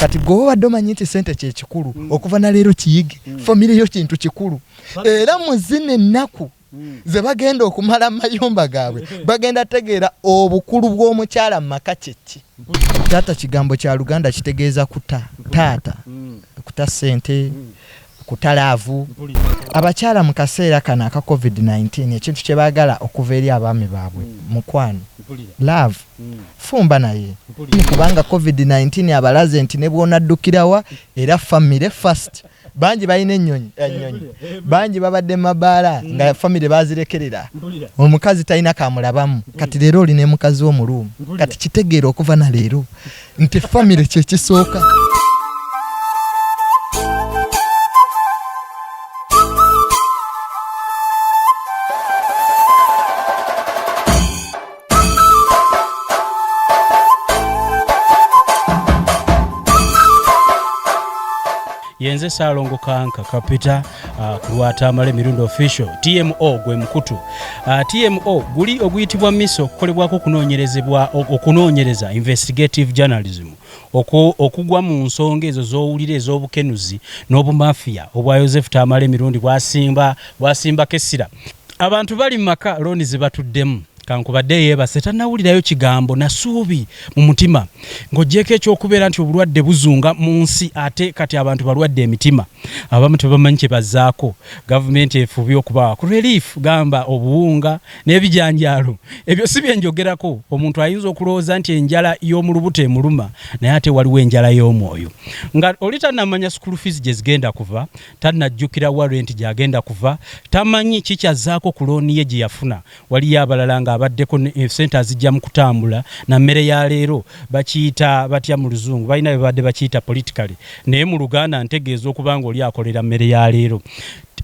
kati gwe obadde omanyi nti sente kyekikulu mm. okuva naleero kiyige mm. famire yo kintu kikulu era muzina ennaku mm. ze bagenda okumala mu mayumba gaabwe mm. bagenda tegeera obukulu bw'omukyala mu maka kyekki taata kigambo kya luganda kitegeeza kuta taata mm. kuta sente mm. kuta laavu. Abakyala mu kaseera kano aka Covid nineteen ekintu kye baagala okuva eri abaami baabwe mukwano, laavu. Fumba naye kubanga Covid nineteen abalaze nti ne bw'onaddukira wa era ffamire first. Bangi balina ennyonyi ennyonyi, bangi babadde mu mabaala nga ffamire baazirekerera, omukazi talina k'amulabamu. Kati leero oli ne mukazi wo mu luumu, kati kitegeere okuva na leero. nti famire kyekisooka yenze saalongo kanka kapita Ah, ku lwa tamale mirundi official tmo gwe mukutu ah, tmo guli oguyitibwa misa okukolebwako okunoonyerezebwa okunoonyereza investigative journalism okugwa mu nsonga ezo zowulira ez'obukenuzi n'obumafiya obwa yosefu tamale mirundi bwasimba bwasimbako essira abantu bali mu maka looni ze batuddemu Kankubadde yeebase tannawulirayo kigambo na ssuubi mu mutima. Ng'oggyeeko eky'okubeera nti obulwadde buzunga mu nsi ate kati abantu balwadde emitima abamu tebamanyi kye bazzaako, Gavumenti efubye okubawa ku relief gamba obuwunga n'ebijanjaalo. Ebyo si bye njogerako, omuntu ayinza okulowooza nti enjala y'omu lubuto emuluma naye ate waliwo enjala y'omwoyo. Nga oli tannamanya school fees gye zigenda kuva, tannajjukira wa rent gy'agenda kuva, tamanyi ki ky'azzaako ku looni ye gye yafuna Waliyo abalala nga abaddeko ne sente azijjamu kutambula na mmere ya leero bakiyita batya mu luzungu balina bebabadde bakiyita politically naye mu luganda ntegeeza okuba nga oli akolera mmere ya leero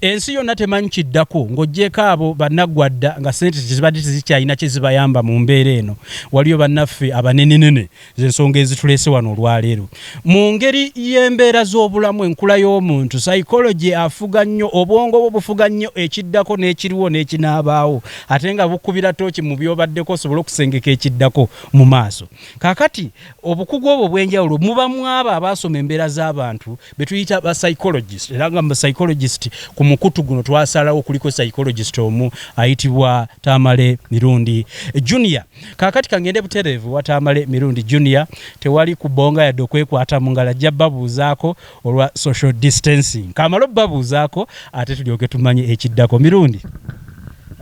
ensi yonna temanyi kiddako ng'ogyeko abo bannaggwadda nga sente tezibadde tezikyalina kye zibayamba mu mbeera eno waliyo bannaffe abanenenene zensonga ezitulese wano olwaleero mu ngeri y'embeera z'obulamu enkula y'omuntu psychology afuga nnyo obwongo bwo bufuga nnyo ekiddako n'ekiriwo n'ekinaabaawo ate nga bukubira tooki mu byobaddeko osobole okusengeka ekiddako mu maaso kakati obukugu obwo obw'enjawulo muba mwabo abaasoma embeera z'abantu be tuyita ba psychologist era nga psychologist ku mukutu guno twasalawo kuliko psychologist omu ayitibwa tamale mirundi junior Kakati kangende butereevu wataamale mirundi junior tewali kubonga yadde okwekwata mungalo ajja babuuzaako olwa social distancing kamale obabuuzaako ate tulyoke tumanye ekiddako mirundi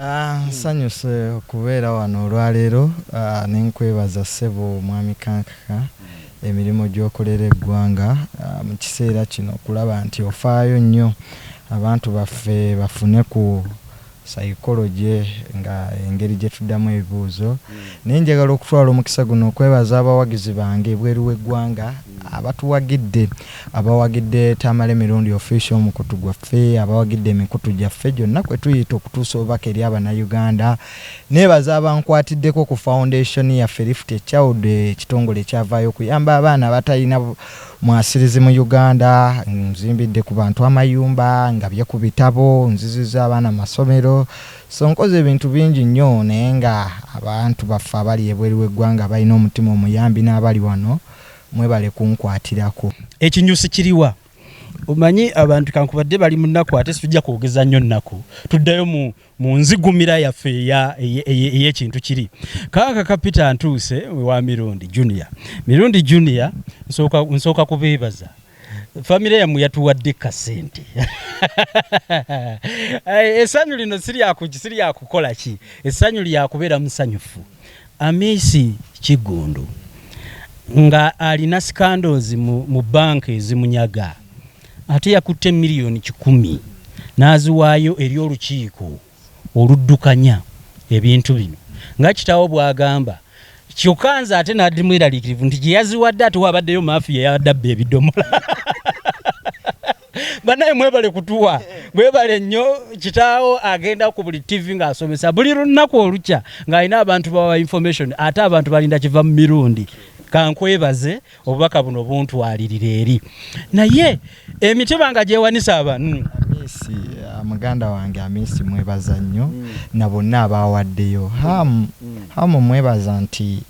ah, nsanyuse okubeera wano olwaleero ah, nenkwebaza ssebo mwami kankaka emirimu gyokolera eggwanga ah, mu kiseera kino okulaba nti ofaayo nnyo abantu baffe bafune ku Psychology nga engeri gye tuddamu ebibuuzo naye njagala okutwala omukisa guno okwebaza abawagizi bange ebweru w'eggwanga abatuwagidde abawagidde Tamale Mirundi Official omukutu gwaffe abawagidde emikutu gyaffe gyonna kwe tuyita okutuusa obubaka eri Abanayuganda neebaza abankwatiddeko ku Foundation yaffe Lift a Child ekitongole ekyavaayo okuyamba abaana abatalina Mwasirizi mu Uganda, nzimbidde ku bantu amayumba, ngabye ku bitabo, nzizizza abaana mu masomero, so nkoze ebintu bingi nnyo naye nga abantu baffe abali ebweru w'eggwanga abalina omutima omuyambi n'abali wano mwebale kunkwatirako. Ekinyusi kiriwa? Omanyi abantu kankubadde bali mu nnaku ate situjja kwogeza nnyo nnaku tuddayo mu. mu nzigumira yaffe ey'ekintu kiri kaaka ka peter ntuuse wa mirundi junior mirundi junior nsooka kubeebaza famire yammwe yatuwadde kasente eh, essanyu lino siryakukola ki essanyu lyakubeera musanyufu amisi kiggundu nga alina sikandoozi mu banka ezimunyaga Ate yakutte million kikumi n'aziwaayo eri olukiiko oluddukanya ebintu bino nga kitaawo bw'agamba kyokka nze ate nabadde mweraliikirivu nti gye yaziwadde ate wabaddeyo maafiya eyabadde abba ebidomola banaye mwebale kutuwa mwebale nnyo kitaawo agenda ku buli ttivi ng'asomesa buli lunaku olukya ng'alina abantu bawa information ate abantu balinda kiva mu mirundi kankwebaze obubaka buno buntwalirira eri naye emitiba nga gyewanisa abantu amisi uh, muganda wange amisi mwebaza nnyo mm. na bonna abaawaddeyo hamu mm. hamu mwebaza nti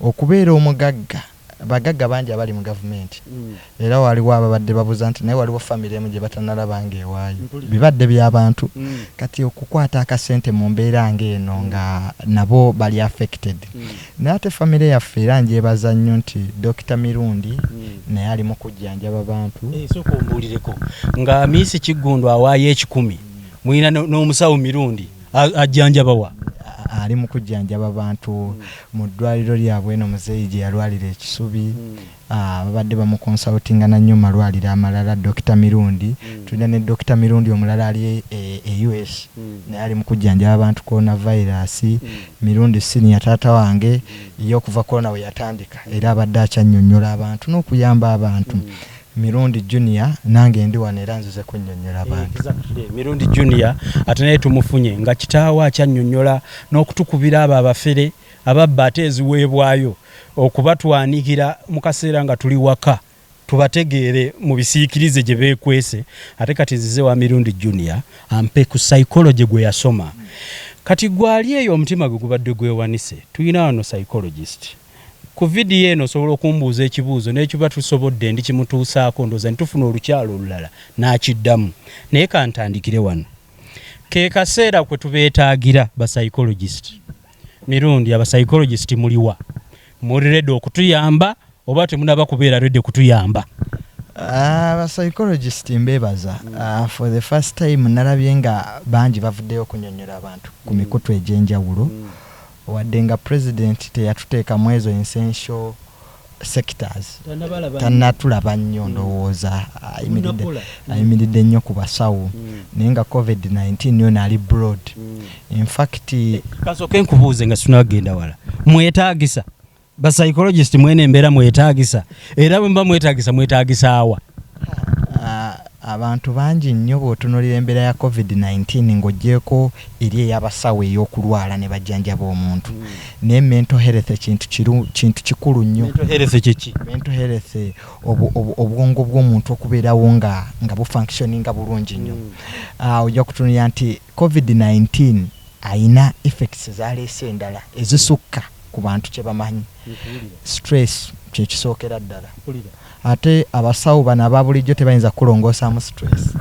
okubeera omugagga bagagga bangi abali mu gavumenti mm. era waliwo ababadde babuza nti naye waliwo famiry emu gye batanalaba nga ewaayo bibadde byabantu mm. kati okukwata akasente mu mbeera ngaeno nga nabo bali affected mm. Naye ate family yaffe era njebaza nnyo nti Dokita Mirundi naye ali mukujjanjaba bantu. Eeh sooka ombuulireko nga Miisi Kiggundu awaayo ekikumi mulina n'omusawo Mirundi ajjanjaba wa? Ali mukujjanjaba bantu mu ddwaliro lyabwe eno muzeeyi gyeyalwalira e Kisubi Ababadde bamukonsalutinga na nnyo mu malwaliro amalala, Dokita Mirundi. Tulina ne Dokita Mirundi omulala ali e US naye ali mu kujjanjaba bantu Coronavirus. Mirundi Senior, taata wange, ye okuva Corona we yatandika era abadde akyannyonnyola abantu n'okuyamba abantu. Mirundi Junior, nange ndi wano era nzize kunnyonnyola bantu. Exactly, Mirundi Junior ate naye tumufunye nga kitaawe akyannyonnyola n'okutukubira abo abafere ababba ate eziweebwayo okubatwanikira mu kaseera nga tuli waka tubategeere mu bisiikirize gye beekwese ate kati nzize wa Mirundi Junior ampe ku psychology gwe yasoma kati gwe ali eyo omutima gwe gubadde gwewanise tulina wano psychologist ku vidiyo eno osobola okumbuuza ekibuuzo n'ekiba tusobodde ndi kimutuusaako ndooza ne tufuna olukyalo olulala n'akiddamu naye kantandikire wano ke kaseera kwe tubeetaagira ba psychologist Mirundi aba psychologist muliwa muri ready okutuyamba oba temunaba kubeera ready kutuyamba ah, aba psychologist mbebaza uh, for the first time nalabye nga bangi bavuddeyo okunyonyola abantu ku mm. mikutu egyenjawulo mm. wadde nga president teyatuteeka mu ezo essential sectors tanatulaba nnyo mm. ndowooza ayimiridde nnyo ku basawo mm. naye nga covid-19 yona ali broad mm. infact kasooke nkubuuze nga sinagenda wala mwetagisa bapsychologist mwene embeera mwetagisa era bwemuba mwetagisa mwetagisaawa Abantu bangi nnyo bw'otunuulira embeera ya Covid nineteen ng'oggyeeko eri ey'abasawo ey'okulwala ne bajjanjaba omuntu naye mental health kintu kiru kintu kikulu nnyo. Mental health kye ki? Mental health obwongo bw'omuntu okubeerawo nga nga bu functioninga bulungi nnyo. Ojja kutunuulira nti Covid nineteen alina effects z'aleese endala ezisukka ku bantu kye bamanyi. Stress kye kisookera ddala. Ate abasawo bano ababulijjo tebayinza kukulongoosamu stress.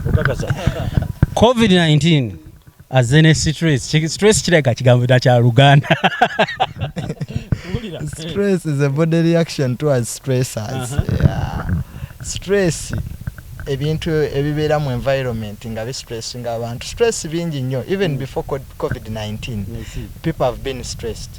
Covid 19 azze ne stress. Stress kirabika kigambo dda kya Luganda. Stress is a body reaction towards stressors. Uh -huh. yeah. Stress ebintu ebibeera mu environment nga bi stress nga abantu stress bingi nnyo even mm. before covid 19 people have been stressed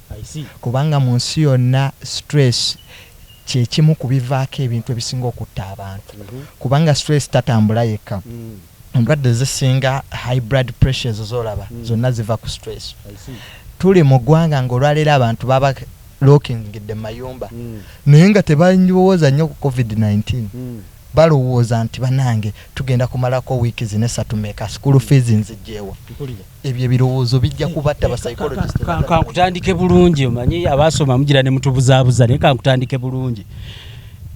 kubanga mu nsi yonna stress kyekimu ku bivaako ebintu ebisinga okutta abantu kubanga stress tatambula yekka endwadde ezisinga high blood pressure ezo zolaba zonna ziva ku stress tuli mu ggwanga nga olwaleero abantu baba lookingidde mu mayumba naye nga tebalowooza nnyo ku covid 19 balowooza nti banange tugenda kumalako wiiki zino esatu meka school fees nzijjeewa ebyo ebirowoozo bijja kubatta basaikologiskankutandike bulungi omanyi abaasoma mugira ne mutubuzaabuza naye kankutandike bulungi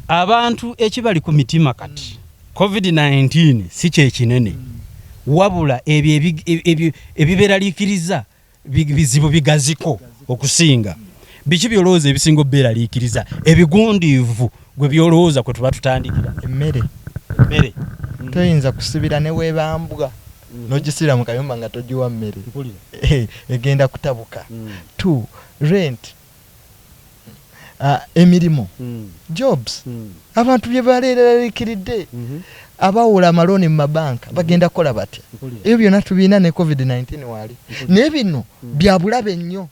abantu ekibali ku mitima kati covid-19 si kyekinene wabula ebyo ebiberaliikiriza bizibu bigaziko okusinga biki byolowooza ebisinga obuberaliikiriza ebigundiivu gwe byolowooza kwe tuba tutandikira emmere emmere toyinza kusibira newebambwa nogisiira mu kayumba nga togiwa mmere egenda kutabuka to rent emirimu jobs abantu bye baleeralikiridde abawola amalooni mu mabanka bagenda kukola batya ebyo byonna tubiina ne covid-19 waali naye bino byabulabe nnyo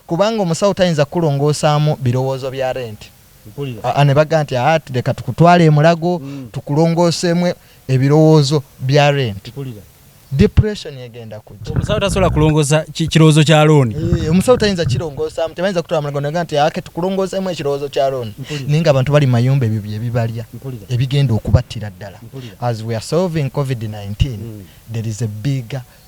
kubanga omusawo tayinza kukulongoosaamu birowoozo bya rent aa ne bagamba nti aa leka tukutwale e Mulago tukulongooseemu ebirowoozo bya rent. Depression egenda kujja. Omusawo tasobola kulongoosa kirowoozo kya looni? Eeh omusawo tayinza kirongoosaamu, tebayinza kutwala Mulago ne bagamba nti aa ke tukulongooseemu ekirowoozo kya looni naye nga abantu bali mu mayumba ebyo bye bibalya ebigenda okubattira ddala as we are solving covid nineteen there is a bigger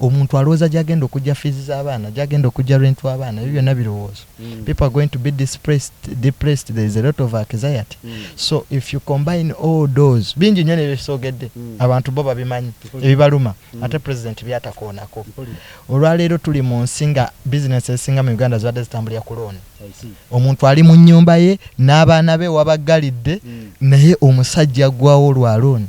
omuntu alowooza gyagenda okujja fees z'abaana gyagenda okujja rent w'abaana ebyo byonna birowoozo mm. people are going to be depressed, depressed there is a lot of anxiety mm. so if you combine all those bingi nnyo nebyesogedde mm. abantu bo babimanyi ebibaluma mm. ate president byatakoonako olwaleero tuli mu nsi nga business esinga mu uganda zibadde zitambulira ku looni omuntu ali mu nyumba ye n'abaana be wabaggalidde mm. naye omusajja gwawo lwa looni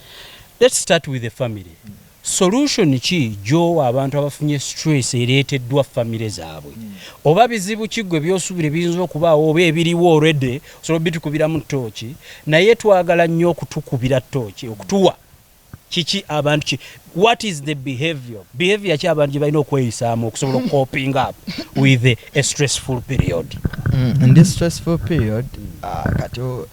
Let's start with the family. Solution ki gyowa abantu abafunye stress ereeteddwa famire zaabwe? Hmm. Oba bizibu ki gwe byosubira ebiyinza okubaawo oba ebiriwo already osobola obitukubiramu ttooki naye twagala nnyo okutukubira ttooki okutuwa kiki abantu ki what is the behavior behavior ki abantu gyebalina okweyisaamu okusobola okukoping up with a stressful period mm, in this stressful period uh,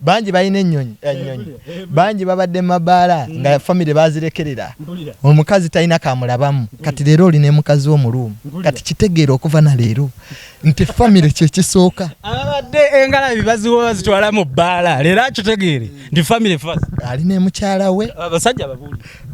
bangi balina ennyonyi ennyonyi bangi babadde mu mabaala nga mm. famire bazirekerera omukazi talina kamulabamu kati leero oli ne mukazi wo muluumu kati kitegeera okuva na leero nti famire kyekisooka ababadde engalabi baziwa bazitwala mu bbaala leero akitegeere nti famire fas ali ne mukyala we abasajja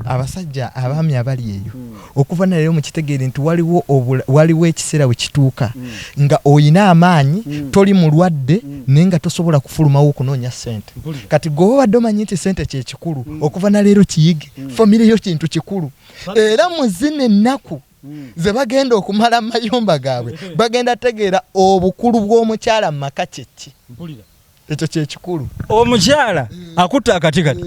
abasajja abaami abali eyo mm. okuva naleero mukitegeere nti waliwo waliwo ekiseera wekituuka mm. nga oyina amaanyi mm. toli mulwadde mm. naye nga tosobola kufulumawo okunoonya sente kati gwe obadde omanyi nti sente kyekikulu mm. okuva naleero kiyige mm. famire yo kintu kikulu era muzina ennaku mm. ze bagenda okumala mu mayumba gaabwe bagenda tegeera obukulu bw'omukyala mu maka kyekki ekyo kyekikulu omukyala akutte akati kati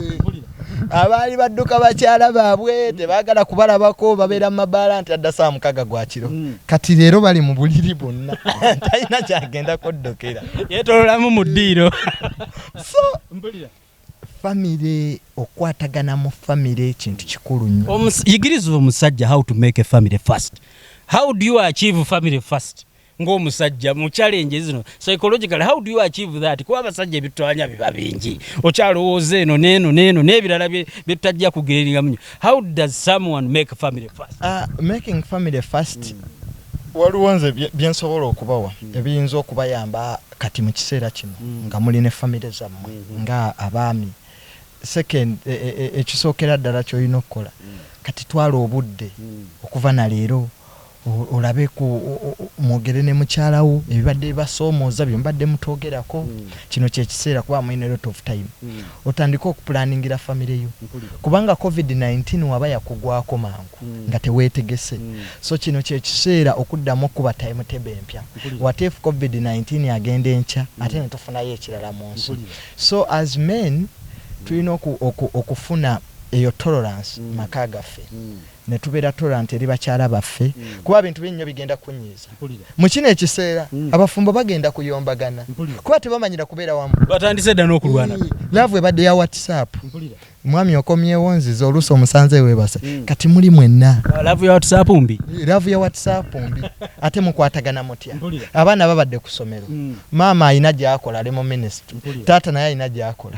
abaali badduka bakyala baabwe tebagala kubalabako babeera mu mabaala nti adda saa mukaga gwa kiro hmm. kati leero bali mu buliri bonna talina kyagenda kuddukira yetololamu mu ddiiro so mbulira famire okwatagana mu famire ekintu kikulu nnyo yigiriza omusajja how to make a family first how do you achieve family first ng'omusajja mu challenge zino psychologically how do you achieve that kuba abasajja ebitwanya biba bingi okyalowooza eno neeno neeno n'ebirala byetutajja kugeeringa munyo how does someone make family first uh, making family first mm. waliwo nze byensobola okubawa mm. ebiyinza okubayamba kati mu kiseera kino mm. nga muli ne famire zammwe mm-hmm. nga abaami second e, e, e, ekisookera ddala kyolina okukola mm. kati twala obudde mm. okuva na leero olabe ku mwogere ne mukyala wo ebibadde bibasoomooza bye mubadde mutoogerako mm. kino kyekiseera kuba mulina lot of time mm. otandike okupulaningira famire yo kubanga covid-19 waba yakugwako mangu mm. nga teweetegese mm. so kino kyekiseera okuddamu okuba time tebe empya wate if covid-19 agenda enkya mm. ate netufunayo ekirala mu nsi so as men tulina okufuna eyo tolerance mm. maka gaffe mm. ne tubeera tolerant eri bakyala baffe kuba bintu bingi nnyo bigenda kunnyiiza. Mu kino ekiseera abafumbo bagenda kuyombagana kuba tebamanyira kubeera wamu. Batandise dda n'okulwana. Yii, laavu ebadde ya WhatsApp. Mwami okomyewo onzize oluusi omusanze weebase. Kati muli mwenna. Laavu ya WhatsApp mbi. Yii, laavu ya WhatsApp mbi. Ate mukwatagana mutya? Abaana babadde ku ssomero. Maama alina gy'akola ali mu minisitule. Taata naye alina gy'akola.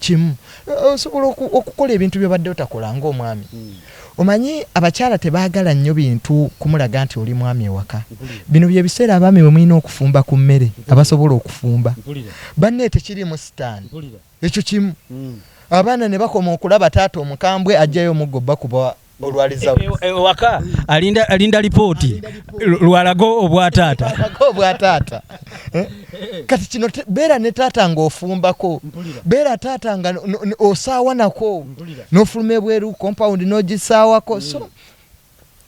kimu osobola okukola ebintu byobadde otakola nga omwami hmm. omanyi abakyala tebagala nnyo bintu kumulaga nti oli mwami ewaka bino byebiseera abaami bwemulina okufumba ku mmere abasobola okufumba banne tekirimu sitaani ekyo kimu hmm. abaana nebakoma okulaba taata omukambwe ajjayo omuggo bakuba olwaliza e, e, ewaka alinda alinda lipooti lwalago obwa taata obwa taata eh? kati kino beera ne taata ng'ofumbako beera taata nga osaawa nako n'ofuluma ebweru compound n'ogisaawako so mm.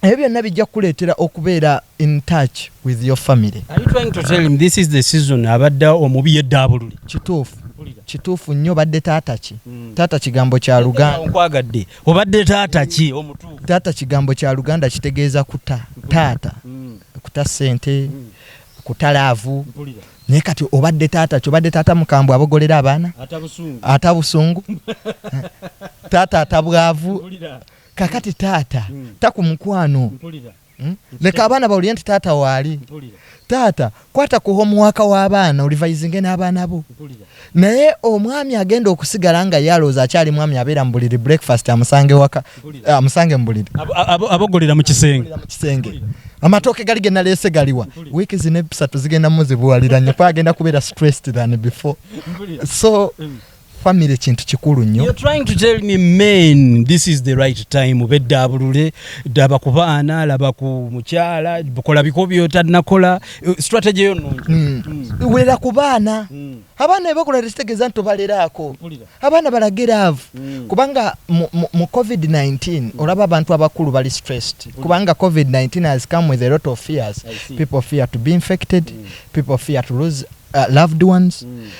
ebyo byonna bijja kukuleetera okubeera in touch with your family Are you trying to tell him this is the season abadde omubi yeddaabululi kituufu kituufu nnyo badde taata ki mm. taata kigambo kya luganda nkwagadde obadde taata ki omutuufu taata kigambo kya luganda kitegeeza kuta taata mm. kuta sente mm. kuta laavu naye kati obadde taata ki obadde taata mukambwe abogolera abaana ata busungu taata atabwavu kakati taata mm. takumukwano Hmm? leka abaana bawulire nti taata waali taata kwata ku homuwaaka w'abaana olivayizinge n'abaana bo naye omwami agenda okusigala nga yalooza akyali mwami abeera mu buliri breakfast amusange waka amusange mu buliri abogolera mu kisenge amatooke gali ge naleese galiwa wiiki zino ebisatu zigenda muzibuwalira nyo kuba agenda kubeera stressed than before so mm. family kintu kikulu nnyo you're trying to tell me men this is the right time bedda abulule daba ku baana laba ku mukyala bukola biko byotanakola uh, strategy yo nungi mm. mm. wulira ku baana mm. abaana bebakola resitegeza nti obaleraako abaana balageravu mm. kubanga mu, mu, mu covid-19 mm. olaba abantu abakulu bali stressed mm. kubanga covid-19 has come with a lot of fears people fear to be infected mm. people fear to lose uh, loved ones mm.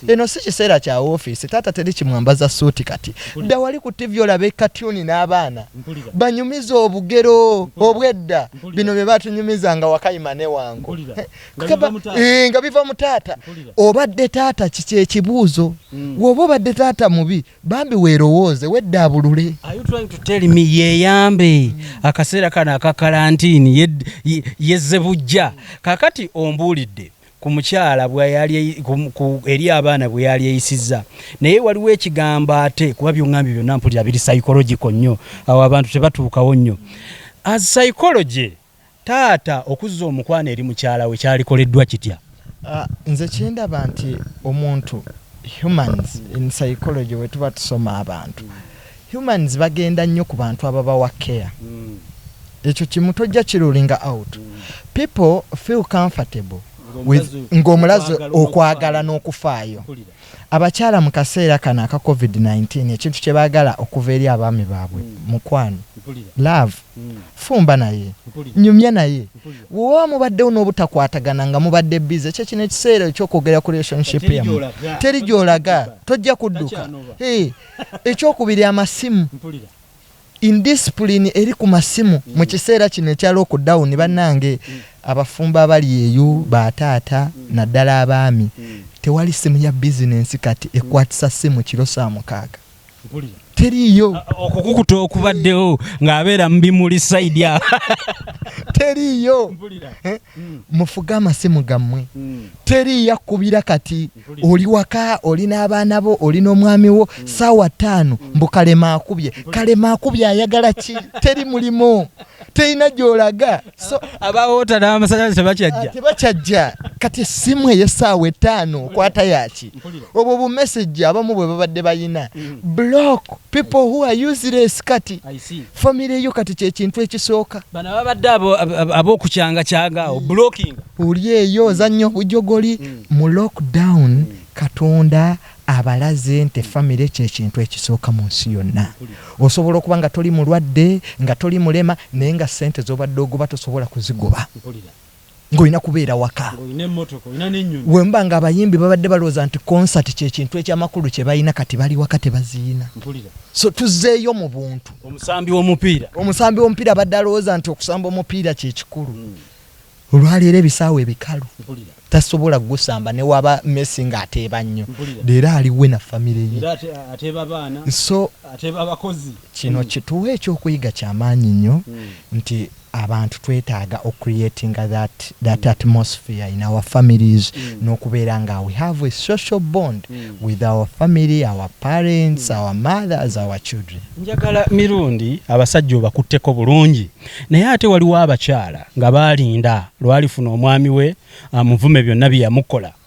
Hmm. eno si kiseera kya ofiisi taata teri kimwambaza suuti kati dda wali ku tivi olaba ekatuni n'abaana banyumiza obugero obwedda bino bye batunyumiza nga wakayima ne wangu eh, nga biva mu taata obadde taata kiki ekibuuzo hmm. woba obadde taata mubi bambi weerowooze wedda abulule yeyambe hmm. akaseera kano aka kalantiini yezze bujja kakati ombuulidde ku mukyala bweyali eri abaana bweyali eyisizza naye waliwo ekigambo ate kuba byongambye byonna mpulira biri psychological nnyo awo abantu tebatuukawo nnyo as psychology taata okuzza omukwano eri mukyala we kyalikoleddwa kitya ah, nze kyendaba nti omuntu humans in psychology wetuba tusoma abantu Humans bagenda nnyo ku bantu ababawa care ekyo kimu tojja ki rulinga out. People feel comfortable with nga omulaze okwagala n'okufaayo. Abakyala mu kaseera kano aka covid nineteen ekintu kye baagala okuva eri abaami baabwe mukwano, love, fumba naye, nyumya naye. Bwe waba mubaddewo n'obutakwatagana nga mubadde busy ekyo kino ekiseera eky'okwogera ku relationship yammwe. Teri gy'olaga, tojja kudduka. Hee. ekyokubiri amasimu indiscipline eri ku masimu mm. mu kiseera kino ekya lockdown bannange mm. abafumbo abali eyo mm. bataata naddala abaami tewali simu ya bizinensi kati ekwatisa simu kiro saa mukaaga teriiyo okukukuta okubaddewo ng'abeera mu bimuli saidi a teriiyo eh? mm. mufuge amasimu gammwe mm. teri yakubira kati oli waka oli n'abaana bo oli n'omwami wo mm. saawa ttaano mm. mbu kalema akubye kalema akubye ayagala ki teri mulimu terina gyolaga so abawoota n'amasanyalaze tebakyajja ah, tebakyajja kati essimu ey'essaawa ettaano okwata yaki obwo bumesagi abamu bwe babadde bayina mm. block people who are useless kati famire yo kati kyekintu ekisooka bano ababadde abokukyangacanga awo blocking oli eyo ozannya obujogoli mm. mu lockdown mm. katonda abalaze nti famire kyekintu ekisooka mu nsi yonna osobola okuba nga toli mulwadde nga toli mulema naye nga sente zobadde ogoba tosobola kuzigoba ng'olina kubeera waka wemba nga abayimbi babadde balowooza nti konsati kyekintu ekyamakulu kye balina kati bali waka tebaziina so tuzeeyo mu buntu omusambi womupiira omusambi womupiira abadde alowooza nti okusamba omupiira kyekikulu hmm. olwaleero ebisaawo ebikalu tasobola gusamba newaba messi nga ateeba nnyo leero aliwe na famire ye so kino hmm. kituwa ekyokuyiga kyamaanyi nnyo hmm. nti Abantu twetaaga o creatinga that that atmosphere in our families nokubeera nga we have a social bond with our family, our parents, our mothers, our children. Njagala Mirundi abasajja obakutteko bulungi naye ate waliwo abakyala nga baalinda lwalifuna omwami we amuvume byonna byeyamukola.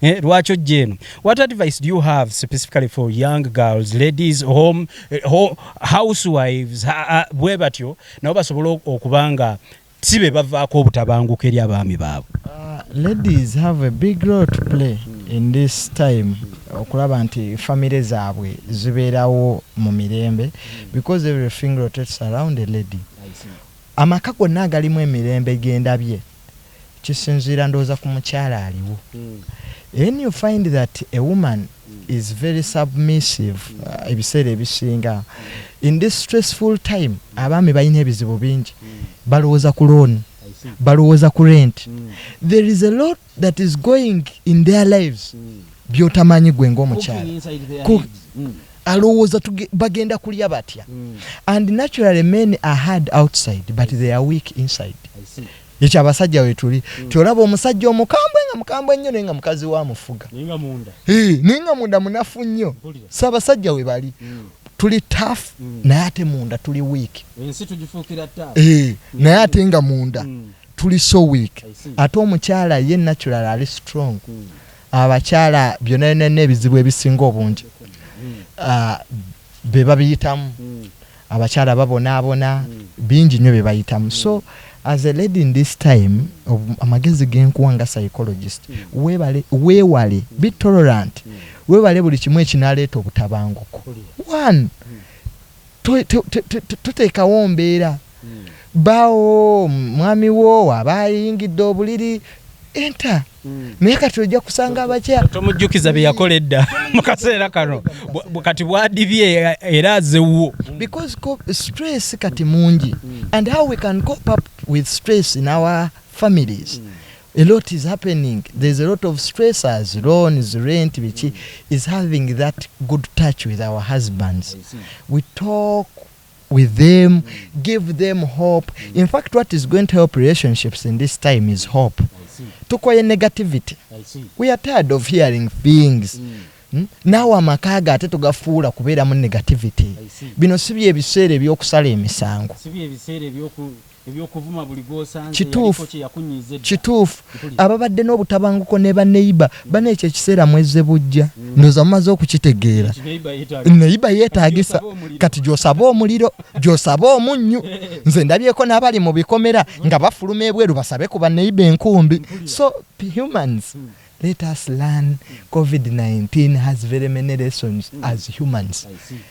Eh, lwaki ojja eno what advice do you have specifically for young girls ladies home, eh, home housewives bwe batyo nabo basobola okuba nga si be bavaako obutabanguko eri abaami baabwe ah, ladies have a big role to play in this time okulaba nti famire zaabwe zibeerawo mu mirembe because everything rotates around a lady amaka gonna agalimu emirembe gendabye kisinziira ndowooza ku mukyala aliwo then you find that a woman is very submissive uh, ebiseera ebisinga in this stressful time abaami balina ebizibu bingi balowooza ku looni balowooza ku rent mm. there is a lot that is going in their lives mm. byotamanyi gwe ngaomukyala mm. alowooza bagenda kulya batya and naturally men are hard outside but they are weak inside Ekyo abasajja wetuli mm. tiolaba omusajja omukambwe nga mukambwe nnyo naye nga mukazi wa mufuga naye nga munda hey, naye nga munda munafu nnyo si abasajja we bali mm. tuli taf mm. naye ate munda tuli week ensi tugifuukira taf hey, mm. naye ate nga munda mm. tuli so week ate omukyala ye natural ali strong mm. abakyala byona byona n'ebizibu ebisinga obungi mm. uh, be babiyitamu abakyala babonaabona bingi nnyo bye bayitamu so as a lady in this time amagezi genkuwa nga psychologist webale wewale be tolerant webale buli kimu ekinaleeta obutabanguko one toteekawo mbeera Bba wo, mwami wo aba ayingidde obuliri enta naye kati ojja kusanga abakya tomujjukiza bye yakola edda mu kaseera kano kati bwadibye era azewwo because stress kati mungi and how we can cope up with stress in our families mm. a lot is happening there's a lot of stressors loans rent biki is having that good touch with our husbands we talk with them give them hope in fact what is going to help relationships in this time is hope tukoye negativity we are tired of hearing things mm. Hmm? naawe amaka ge ate tugafuula kubeeramu negativity bino si byebiseera ebyokusala emisango Kituufu, kituufu. Ababadde n'obutabanguko ne baneiba bana ekyo ekiseera mwezze bujja mm. ndoza mumaze okukitegeera. Neiba yeetagisa kati gy'osaba omuliro gy'osaba omunnyu. Nze ndabyeko n'abali mu bikomera nga bafuluma ebweru basabe ku baneiba enkumbi so humans mm. Let us learn covid 19 has very many lessons as humans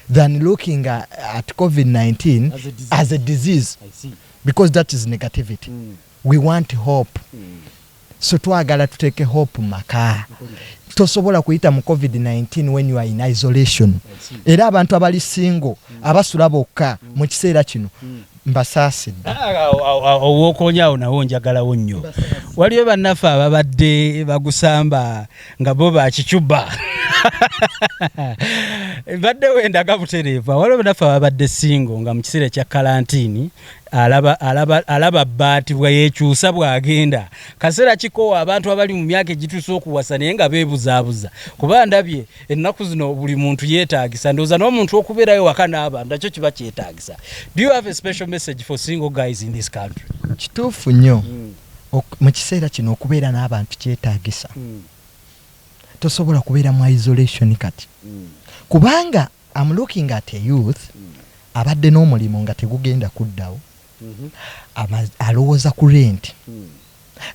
than looking at covid 19 as a disease because that is negativity mm. we want hope mm. so twagala tuteke hope maka tosobola kuyita mu covid 19 when you are in isolation era abantu abali single mm. abasula bokka mu kiseera kino Mbasaasidde. Ow'okoonya awo nawo njagalawo nnyo. Waliyo bannaffe ababadde bagusamba nga bo ba kicuba. Mbadde wendaga butereevu. Waliwo bannaffe ababadde singo nga mu kiseera ekya kalantiini alaba, alaba, alaba bbaati bwe yeekyusa bw'agenda. Kaseera kikoowa abantu abali mu myaka egituuse okuwasa naye nga beebuzaabuza kuba ndabye ennaku zino buli muntu yeetagisa ndowooza n'omuntu okubeerayo waka n'abantu nakyo kiba kyetagisa do you have a special message for single guys in this country kituufu nnyo hmm. mu kiseera kino okubeera n'abantu kyetagisa hmm. tosobola kubeera mu isolation kati hmm. kubanga am looking at a youth abadde n'omulimu nga tegugenda kuddawo Alowooza ku renti,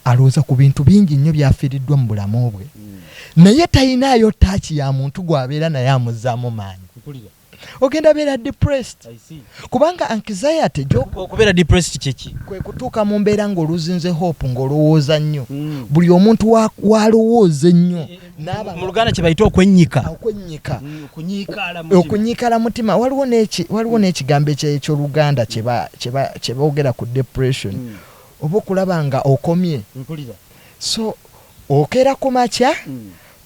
alowooza ku bintu bingi nnyo byafiiriddwa mu bulamu bwe, naye talinaayo ttaaci ya muntu gw'abeera naye amuzzaamu maanyi. Ogenda beera depressed kubanga anxiety gy'okubeera depressed kye ki? Kwe kutuuka mu mbeera ng'oluzinze hope ng'olowooza nnyo, hmm. buli omuntu w'alowooza ennyo. mu luganda kyebayita okwennyika okunyiikala mm, mutima waliwo mm. n'ekigambo ekyoluganda kyeboogera ku depression mm. oba okulaba nga okomye so okeera ku makya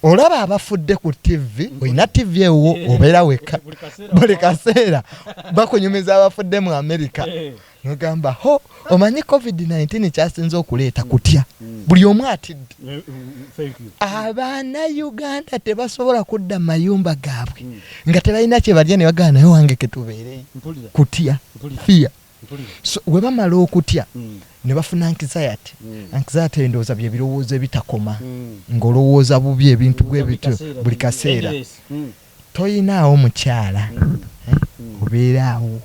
olaba abafudde ku tivi olina tivi ewo obeera wekka buli kaseera bakunyumiza abafudde mu amerika eh. nogamba ho omanyi covid 19 kyasinze okuleeta kutya mm. buli omu atidde eh, eh, eh, abaana uganda tebasobola kudda mayumba gaabwe mm. nga tebalina kyebalya nebagaa naye wange ketubeereyo kutya fiya so webamala okutya mm. nebafuna anxiety anxiety endowooza byebirowoozo ebitakoma ngaolowooza bubi ebintu bwebityo buli kaseera Toyinaawo mukyala eh obeera awo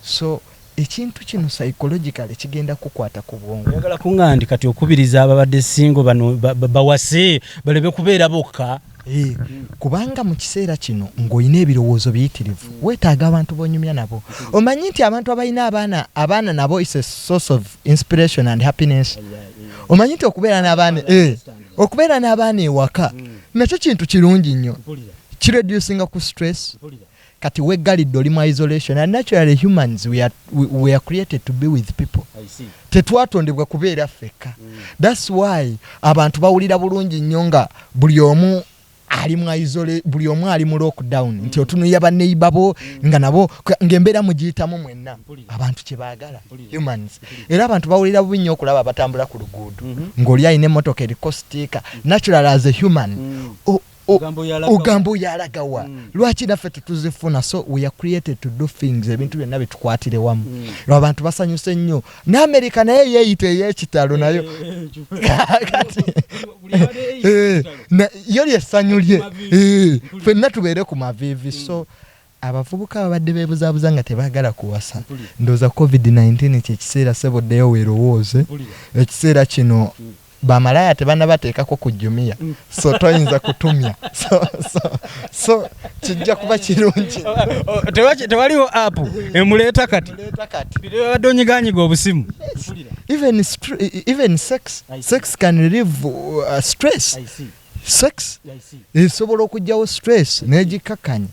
so ekintu kino psychologically kigenda kukwata ku bwongo. Oyagala kungandi kati okubiriza ababadde single bano bawase balebe kubeera bokka? Eh, kubanga mu kiseera kino ng'olina ebirowoozo biyitirivu weetaaga abantu b'onyumya nabo omanyi nti abantu abalina abaana abaana nabo is a source of inspiration and happiness omanyi nti okubeera n'abaana eh, okubeera n'abaana ewaka mm. nakyo kintu kirungi nnyo kireducinga ku stress kati weggalidde oli mu isolation and naturally humans we are, we, we are created to be with people tetwatondebwa kubeera ffekka mm. thats why abantu bawulira bulungi nnyo nga buli omu ali mu isole buli omu ali mu lockdown nti otunuya ba neighbor bo nga nabo ng'embeera mugiyitamu mwenna abantu kye baagala humans era abantu bawulira bubi nnyo okulaba abatambula ku luguudo mhm. ng'oli alina emmotoka eriko sitiika natural as a human mm. ogamba oyo alagawa mm. lwaki naffe tetuzifuna so we are created to do things ebintu byonna bitukwatire wamu mm. lwabantu basanyuse nnyo ne america naye yeeyita ey'ekitalo nayo kati eh, na- yo lyessanyu lye Eh, fenna tubeere ku maviivi so abavubuka babadde beebuzaabuza nga tebaagala kuwasa ndowooza covid-19 kyekiseera sebo ddeyo weerowooze ekiseera kino Ba malaya tebanabateekako ku jumia so toyinza kutumya so, so, so kijja kuba kirungi tewaliwo app emuleeta kati babadde onyiganyiga obusimu even, even sex, sex can relieve uh, stress sex esobola okugyawo stress negikakanya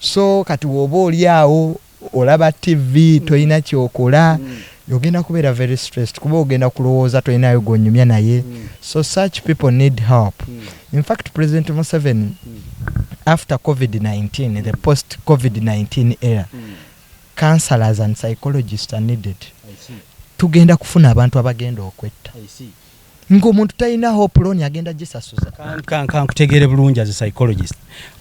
so kati woba oli awo olaba TV tolina kyokola ogenda kubeera very stressed kuba ogenda kulowooza tolinayo gwonyumya naye so such people need help in fact president Museven after covid-19 the post covid-19 era counselors and psychologists are needed tugenda kufuna abantu abagenda okwetta. nga omuntu talina hope loan agenda gisasuza kankutegeere bulungi as a psychologist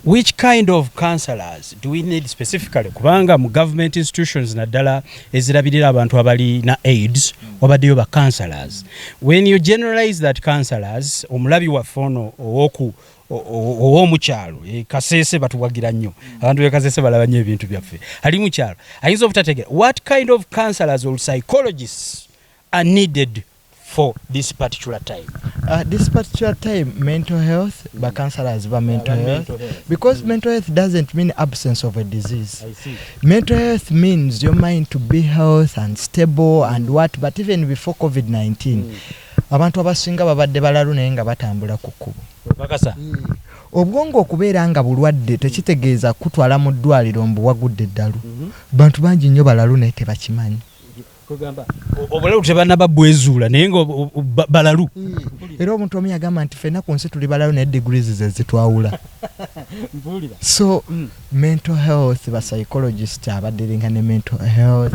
which kind of counselors do we need specifically kubanga mu government institutions naddala ezirabirira abantu abali na aids wabaddeyo ba counselors when you generalize that counselors omulabi waffe ono owoku owomukyalo e, kasese batuwagira nnyo abantu bekasese balaba nnyo ebintu byaffe ali mukyalo ayinza obutategera what kind of counselors or psychologists are needed for this particular time uh, this particular time mental health mm. ba counselors ba mental yeah, health, mental health because mm. mental health doesn't mean absence of a disease I see. mental health means your mind to be health and stable and what but even before covid-19 mm. abantu abasinga babadde balalu naye nga batambula ku kkubo mm. obwongo okubeera nga bulwadde tekitegeeza kutwala mu ddwaliro mbu wagudde eddalu mm -hmm. bantu bangi nnyo balalu naye tebakimanyi kwegamba obulalu tebanaba bwezuula naye nga balalu era omuntu omu yagamba nti fena ku nsi tuli balalu naye degrees ze zitwawula so mm. mental health ba psychologist abadiringa ne mental health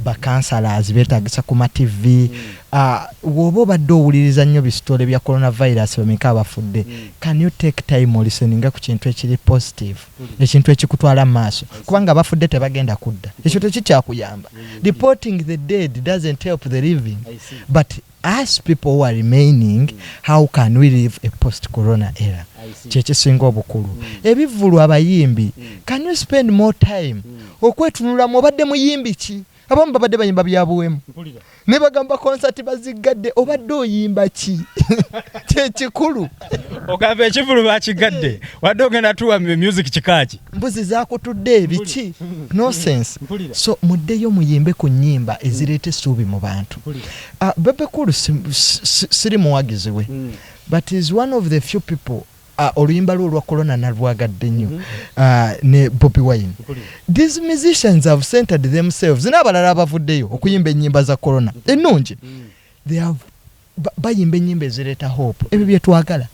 ba counselors betagisa ku matv mm. ah, woba obadde owuliriza nnyo bisitole bya coronavirus bameka abafudde mm. can you take time oliseninga ku kintu ekiri positive ekintu ekikutwala mu maaso kubanga abafudde tebagenda kudda ekyo tekikyakuyamba reporting the dead doesn't help the living but us people who are remaining how can we live a post corona era kyekisinga obukulu mm. ebivulu abayimbi mm. can you spend more time mm. okwetunulamu obadde muyimbi ki abamu babadde bayimba byabuwemu naye bagamba konsati baziggadde obadde oyimba ki kyekikulu ogamba ekivulu bakiggadde wadde ogenda tuwa music kikaaki mbuzi zakutudde ebiki nosense so muddeyo muyimbe ku nyimba ezireeta essuubi mu bantu ah, bebekulu siri muwagizi we mm. but is one of the few people Ah, oluyimba lwe olwa corona nalwagadde nnyo mhm. ah, ne bobi wine these musicians have centered themselves n'abalala abavuddeyo okuyimba ennyimba za corona ennungi mm. bayimba ennyimba ezireeta hope ebyo byetwagala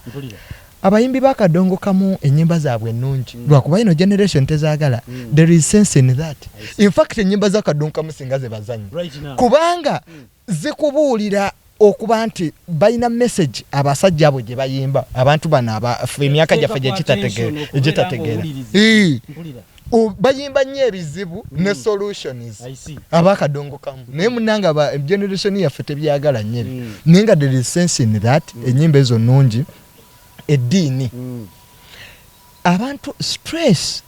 abayimbi bakadongo kamu enyimba zaabwe ennungi mm. lwakuba ino generation tezagala mm. there is sense in that in fact enyimba zakadongo kamu singa zebazanyi kubanga mm. zikubuulira okuba nti balina message abasajja abo gyebayimba abantu bano abafe emyaka gyaffe gyegitategeera bayimba nnyo ebizibu mm. ne solutions abakadongo kamu mm. naye munanga ba generation yaffe tebyagala nnyo ebyo mm. naye nga there is sense in that ennyimba ezo nnungi eddiini abantu stress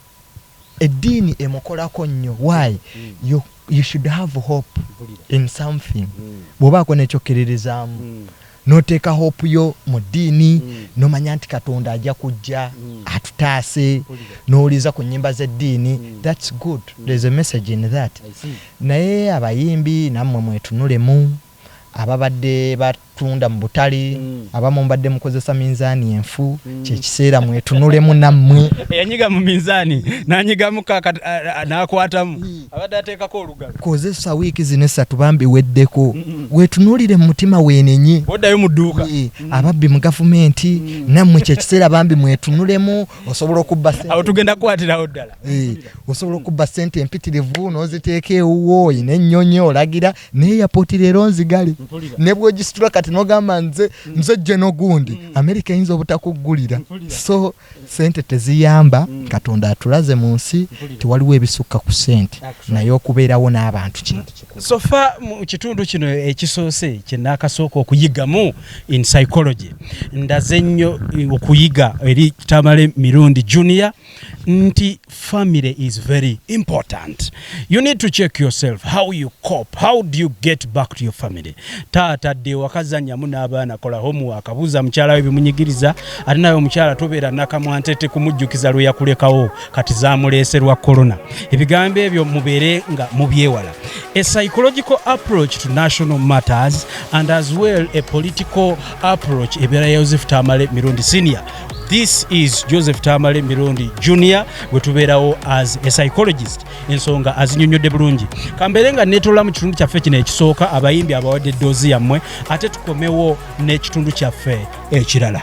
eddiini emukolako nnyo why you, you should have hope in something bwobaako nekyokkiririzaamu noteeka hope yo mu ddiini nomanya nti katonda ajja kujja atutaase nowuliza ku nyimba z'eddiini thats good there's a message in that naye abayimbi nammwe mwetunulemu ababadde batunda mu butale abamu mbadde mukozesa minzaani enfu kyekiseera mwetunulemu nammwe eyanyiga mu minzaani nanyigamu nakwatamu abadde ateekako olugalo kozesa wiiki zino essatu bambi weddeko wetunulire mu mutima wenenye oddayo mu dduuka ababbi mu gavumenti nammwe kyekiseera bambi mwetunulemu osobola okubba awo tugenda kukwatirawo ddala osobola okubba sente empitirivu noziteeka ewuwo oyina ennyonyi olagira naye yapoti leero nzigale ne bwogisitula kati nogamba nze mm. nze jje nogundi mm. amerika eyinza obutakuggulira so sente teziyamba mm. katonda atulaze mu nsi tewaliwo ebisukka ku sente naye okubeerawo n'abantu kintu sofa mu kitundu kino ekisoose kyenakasooka okuyigamu in psychology ndaze nnyo eh, okuyiga eri tamale mirundi junior nti family is very important you need to check yourself how you cope how do you get back to your family taata dde wakazanyamu n'abaana kola homework abuuza mukyala we bimunyigiriza ate nawe omukyala tobeera nakamwantete kumujjukiza lwe yakulekawo kati zamuleeserwa corona ebigambo ebyo mubeere nga mubyewala a psychological approach to national matters and as well a political approach ebeera ya yosefu tamale mirundi senior This is Joseph Tamale Mirundi Junior gwe tubeerawo as a psychologist ensonga azinyonnyodde bulungi kambeere nga neetola mu kitundu kyaffe kino ekisooka abayimbi abawadde eddoozi yammwe ate tukomewo n'ekitundu kyaffe ekirala